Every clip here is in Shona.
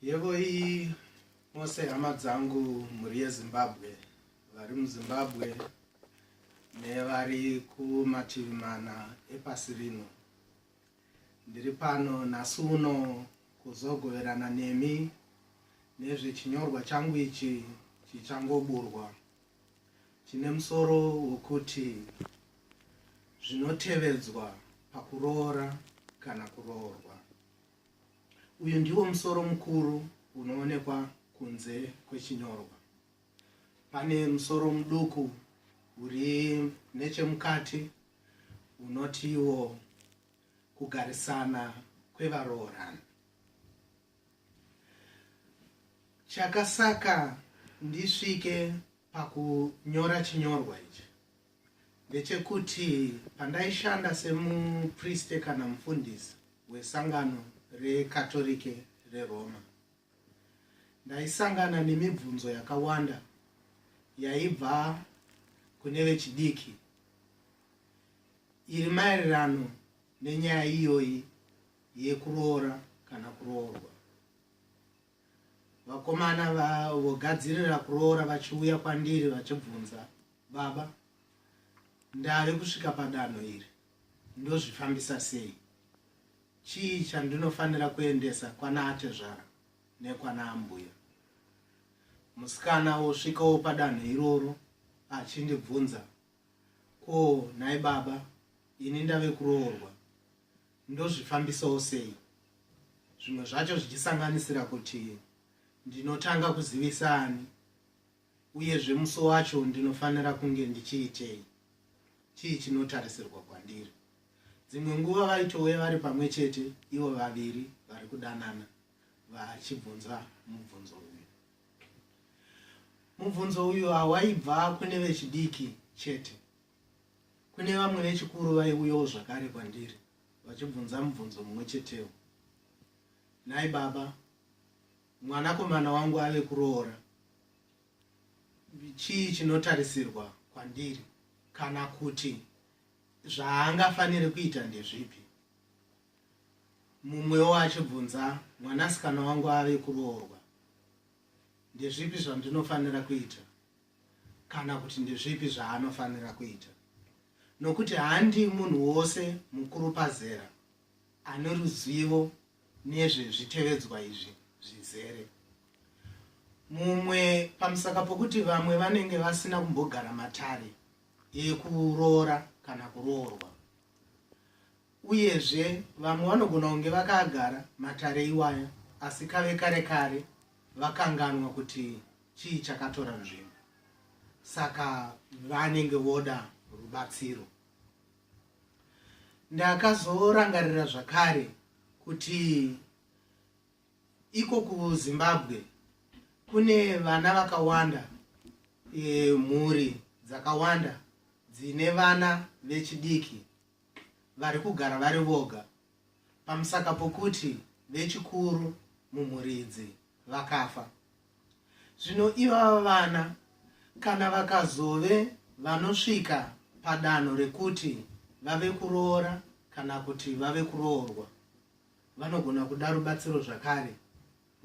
yevoi mose hama dzangu mhuri yezimbabwe vari muzimbabwe nevari kumativi mana epasi rino Ndiri pano nhasi uno kuzogoverana nemi nezvechinyorwa changu ichi chichangoburwa chine musoro wokuti zvinotevedzwa pakuroora kana kuroorwa. Uyu ndiwo musoro mukuru unoonekwa kunze kwechinyorwa. Pane musoro muduku uri nechemukati unotiwo kugarisana kwevaroorana chakasaka ndisvike pakunyora chinyorwa ichi ndechekuti pandaishanda semupriste kana mufundisi wesangano rekatorike reroma Ndaisangana nemibvunzo yakawanda yaibva kune vechidiki iri maererano nenyaya iyoyi yekuroora kana kuroorwa. Vakomana vogadzirira kuroora vachiuya kwandiri vachibvunza, baba, ndave kusvika padanho iri, ndozvifambisa sei chii chandinofanira kuendesa kwana atezvara nekwana ambuya musikana wosvikawo padanho iroro achindibvunza ko nhai baba ini ndave kuroorwa ndozvifambisawo sei zvimwe zvacho zvichisanganisira kuti ndinotanga kuzivisa ani Uyezve musi wacho ndinofanira kunge ndichiitei? Chii chinotarisirwa kwandiri? Dzimwe nguva vaitouya vari pamwe chete ivo vaviri vari kudanana vachibvunza mubvunzo uyu. Mubvunzo uyu hawaibva kune vechidiki chete. Kune vamwe vechikuru vaiuyawo zvakare kwandiri vachibvunza mubvunzo mumwe chetewo. Nhai baba, Mwanakomana wangu ave kuroora. Chii chinotarisirwa kwandiri kana kuti zvaangafanire kuita ndezvipi? Mumwewo achibvunza, mwanasikana wangu ave kuroorwa. Ndezvipi zvandinofanira kuita kana kuti ndezvipi zvaanofanira kuita? Nokuti handi munhu wose mukuru pazera ane ruzivo nezvezvitevedzwa izvi zvizere. Mumwe pamusaka pokuti vamwe vanenge vasina kumbogara matare ekuroora kana kuroorwa, uyezve vamwe vanogona kunge vakagara matare iwaya asi kave kare kare vakanganwa kuti chii chakatora nzvimbo, saka vanenge voda rubatsiro. ndakazorangarira zvakare kuti iko kuzimbabwe kune vana vakawanda e, mhuri dzakawanda dzine vana vechidiki vari kugara vari voga pamusaka pokuti vechikuru mumhuri idzi vakafa Zvino ivava vana kana vakazove vanosvika padanho rekuti vave kuroora kana kuti vave kuroorwa, vanogona kuda rubatsiro zvakare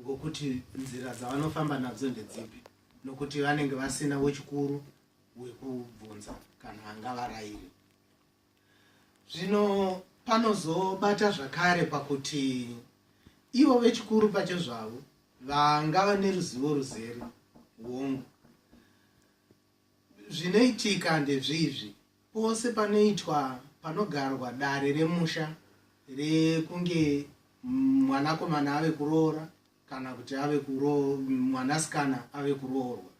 ngokuti nzira dzavanofamba nadzo ndedzipi, nokuti vanenge vasina wechikuru wekubvunza kana angavarairi. Zvino panozobata zvakare pakuti ivo vechikuru pachezvavo vangava neruzivo ruzere hongu zvinoitika ndezvizvi pose panoitwa panogarwa dare remusha rekunge mwanakomana ave kuroora kana kuti ave mwanasikana ave kuroorwa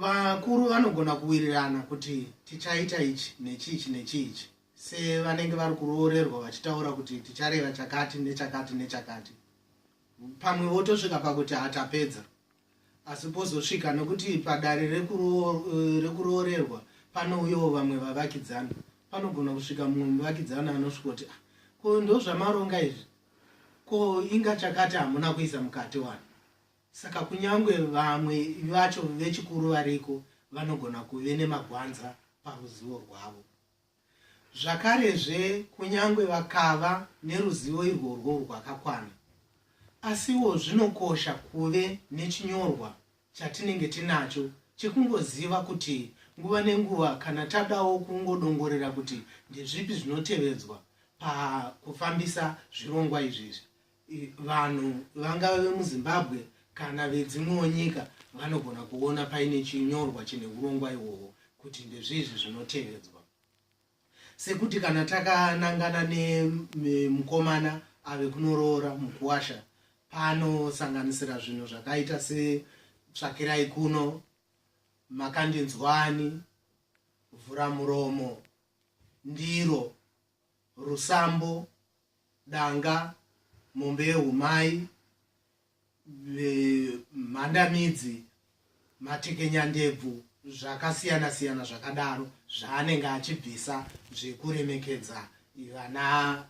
vakuru vanogona kuwirirana kuti tichaita ichi nechiichi nechiichi sevanenge vari kuroorerwa vachitaura kuti tichareva chakati nechakati nechakati pamwe votosvika pakuti hatapedza asi pozosvika nekuti padare rekuroorerwa panouyawo vamwe vavakidzana panogona kusvika mumwe muvakidzana anosvikoti ah, ko ndozvamaronga izvi ko inga chakati hamuna kuisa mukati wani Saka kunyangwe vamwe vacho vechikuru variko vanogona kuve nemagwanza paruzivo rwavo. Zvakarezve, kunyangwe vakava neruzivo irworwo rwakakwana, asiwo zvinokosha kuve nechinyorwa chatinenge tinacho chekungoziva kuti nguva nenguva kana tadawo kungodongorera kuti ndezvipi zvinotevedzwa pakufambisa zvirongwa izvizvi, vanhu vangava vemuzimbabwe kana vedzimwewo nyika vanogona kuona paine chinyorwa chine urongwa ihwohwo kuti ndezviizvi zvinotevedzwa sekuti kana takanangana nemukomana ave kunoroora mukuwasha panosanganisira zvinhu zvakaita setsvakirai kuno makandinzwani vhura muromo ndiro rusambo danga, mombe yehumai, mhandamidzi, matekenyandebvu zvakasiyana siyana zvakadaro zvaanenge achibvisa zvekuremekedza vana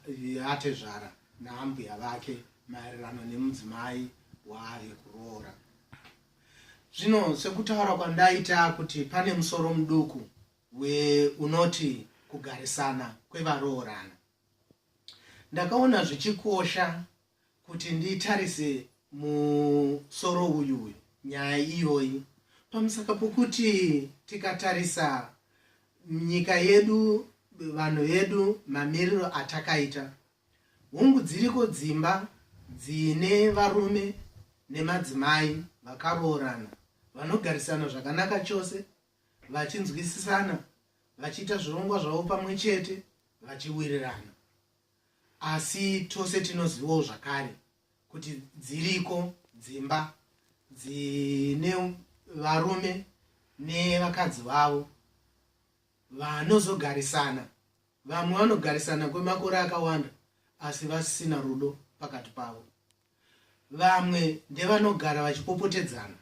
vatezvara naambuya vake maererano nemudzimai waave kuroora zvino sekutaura kwandaita kuti pane musoro muduku unoti kugarisana kwevaroorana Ndakaona zvichikosha kuti nditarise musoro uyu nyaya iyoyi pamusaka pokuti tikatarisa nyika yedu vanhu vedu mamiriro atakaita hungu dziriko dzimba dzine varume nemadzimai vakaroorana vanogarisana zvakanaka chose vachinzwisisana vachiita zvirongwa zvavo pamwe chete vachiwirirana asi tose tinozivawo zvakare kuti dziriko dzimba dzine varume nevakadzi vavo vanozogarisana vamwe vanogarisana kwemakore akawanda asi vasisina rudo pakati pavo vamwe ndevanogara vachipopotedzana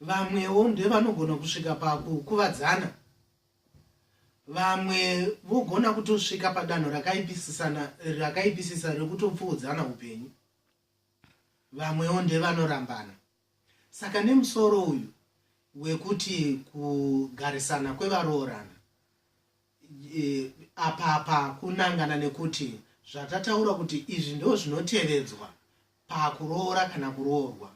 vamwewo ndevanogona kusvika pakukuvadzana vamwe vogona kutosvika padanho rakaipisisana rakaipisisa rekutopfuudzana upenyu vamwewo ndevanorambana saka nemusoro uyu wekuti kugarisana kwevaroorana e, apapa kunangana nekuti zvatataura kuti izvi ndo zvinotevedzwa pakuroora kana kuroorwa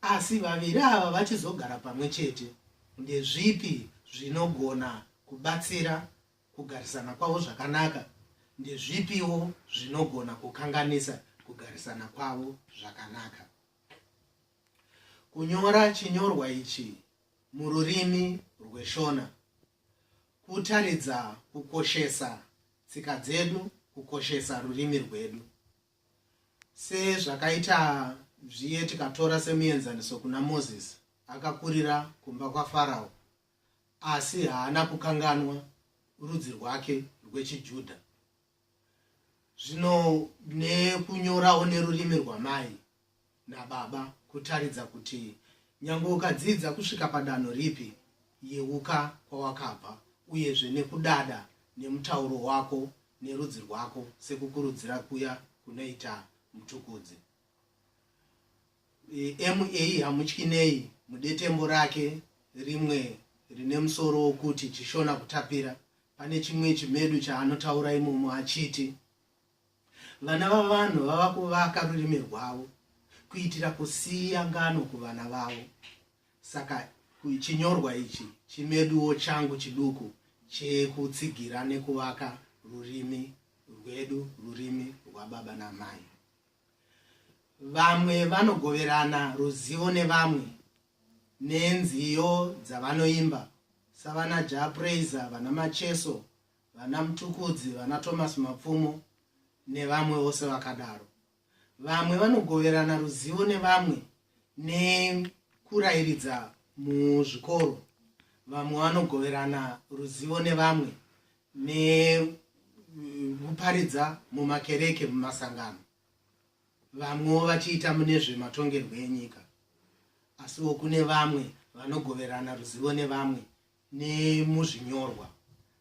asi vaviri ava vachizogara pamwe chete ndezvipi zvinogona kubatsira kugarisana kwavo zvakanaka ndezvipiwo zvinogona kukanganisa kugarisana kwavo zvakanaka kunyora chinyorwa ichi mururimi rweshona kutaridza kukoshesa tsika dzedu kukoshesa rurimi rwedu Sezvakaita zviye tikatora semuenzaniso kuna Moses akakurira kumba kwaFarao asi haana kukanganwa rudzi rwake rwechiJudha. Zvino nekunyorawo nerurimi rwamai nababa kutaridza kuti nyangwe ukadzidza kusvika padanho ripi, yeuka kwawakabva uyezve nekudada nemutauro wako nerudzi rwako sekukurudzira kuya kunoita Mtukudzi. E, MA hamutyi nei mudetembo rake rimwe rine musoro wokuti Chishona Kutapira, pane chimwe chimedu chaanotaura imomo achiti, Vana vavanhu vava kuvaka rurimi rwavo kuitira kusiya ngano kuvana vavo. Saka chinyorwa ichi chimeduwo changu chiduku chekutsigira nekuvaka rurimi rwedu, rurimi rwababa namai. Vamwe vanogoverana ruzivo nevamwe nenziyo dzavanoimba savana Jah Prayzah, vana Macheso, vana Mtukudzi, vana Thomas Mapfumo nevamwe vose vakadaro. Vamwe vanogoverana ruzivo nevamwe nekurairidza muzvikoro, vamwe vanogoverana ruzivo nevamwe nekuparidza mumakereke, mumasangano, vamwewo vachiita mune zvematongerwo enyika. Asiwo kune vamwe vanogoverana ruzivo nevamwe nemuzvinyorwa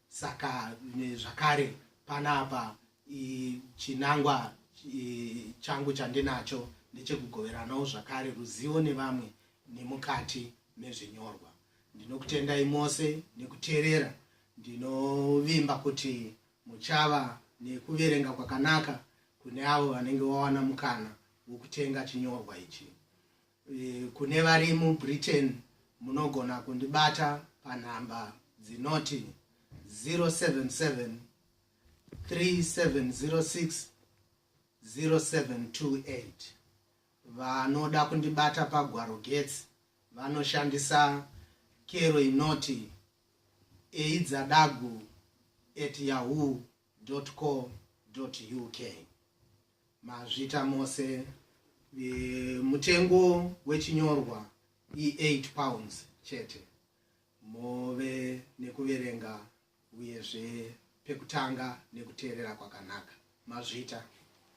saka zvakare panapa chinangwa changu chandinacho ndechekugoveranawo zvakare ruzivo nevamwe nemukati mezvinyorwa ndinokutendai mose nekuteerera ndinovimba kuti muchava nekuverenga kwakanaka kune avo vanenge vawana mukana wokutenga chinyorwa ichi Eh, kune vari mubritain munogona kundibata panhamba dzinoti 077 3706 0728 vanoda kundibata pagwaro getsi vanoshandisa kero inoti eidzadagu at yahoo www.ccc.co.uk mazvita mose e, mutengo wechinyorwa i8 pounds chete move nekuverenga uyezve pekutanga nekuteerera kwakanaka mazvita